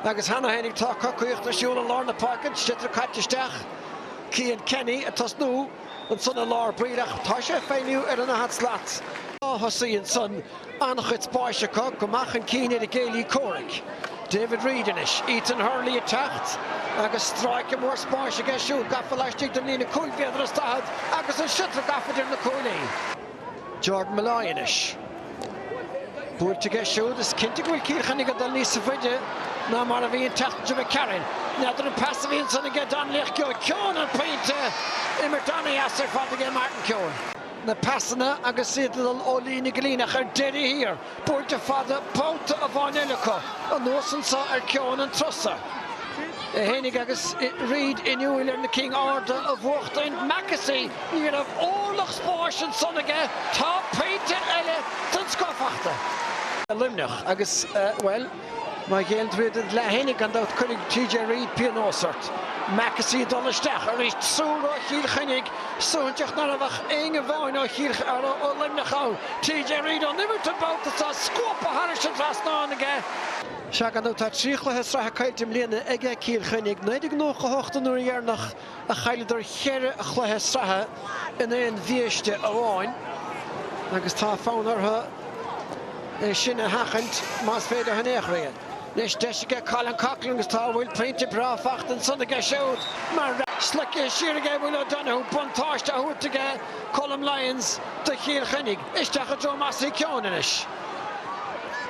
Agus cheana féinig tá cocaíocht ar siúl i lár na páirce an sliotar caite isteach, Cian Kenny ag tosnú ansan i lár baill ach tá sé ag feidhmiú ar an daichead slat ó thosaigh ansan an-chuid spáis acu go maith chun cinn ar a gcéilí comhraic, David Reidy anois. Ethan Hurley ag teacht agus stráice mór spáis aige siúd gafa laistigh den líne cúig mhéadar is daichead agus an sliotar gafa idir na cuaillí. Jordan Molloy anois. Buailte aige siúd. Is cinnte go bhfuil Cill Chainnigh ag dul níos faide ná mar a bhí an tseachtain seo d'imigh tharainn. N'fheadar an pas a bhí ansin aige Donnelly ach gheobhaidh Keoghan an pointe. Imirt an-dheas ar fad aige Martin Keoghan. Na pasanna agus iad ag dul ó líne go líne ach ar deireadh thiar Buailte fada babhta amháin eile acu, anuas anso ar Keoghan an turas so fhéinig agus Reid inniúil ar na cinn arda a bhuachtaint. Mackessy ní raibh órlach spáis ansan aige. Tá pointe eile den scoth fachta. Luimneach agus, bhuel. Má ghéilleann tú id leath fhéinig, gan dabht cuirfidh TJ Reid pionós ort. Mackessy ag dul isteach arís triúr ó Chill Chainnigh. Suaithinseach ná raibh ach éinne amháin ó Chill ó Luimneach ann. TJ Reid ón imirt an babhta seo, scuabtha thairis an trasnán aige. Sea, gan dabht tá trí chluiche sraithe caillte i mbliana aige Cill Chainnigh, 1998 an uair dheireanach, a chailleadar ceithre chluiche sraithe in aon bhiaiste amháin agus tá fonn orthu é sin a sheachaint más féidir in aon chor é. Anois deis aige Colin Coughlan agus tá bhuel pointe breá fachta ansan aige siúd mar. Slogtha siar aige Will O'Donoghue buntáiste á thabhairt aige Colm Lyons do Chill Chainnigh. Isteach i dtreo Mossy Keoghan anois.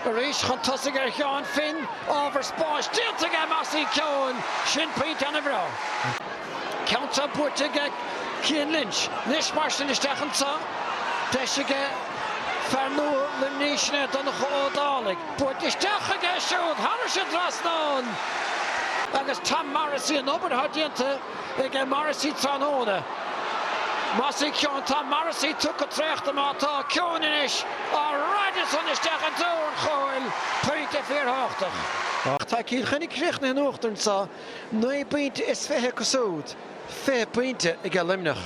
Arís chun tosaigh ar Sheán Finn, ábhar spáis déanta aige, Mossy Keoghan, sin pointe ana bhreá. Ceann seo buaite aige Cian Lynch. Anois mar sin isteach anseo, deis aige fear nua Luimnigh sin é Donncha Ó Dálaigh. Buailte isteach aige siúd, thairis an trasnán agus Tom Morrissey an obair atá déanta. ag Morrissey tráthnóna. Mossy Keoghan tá Morrissey tugtha traochta má tá Keoghan anois á raideadh san isteach i dtreo an chúil, pointe fíorthabhachtach. Ach tá Cill Chainnigh críochnaithe in uachtar anseo naoi bpointe is fiche acu siúd, fiche pointe aige Luimneach.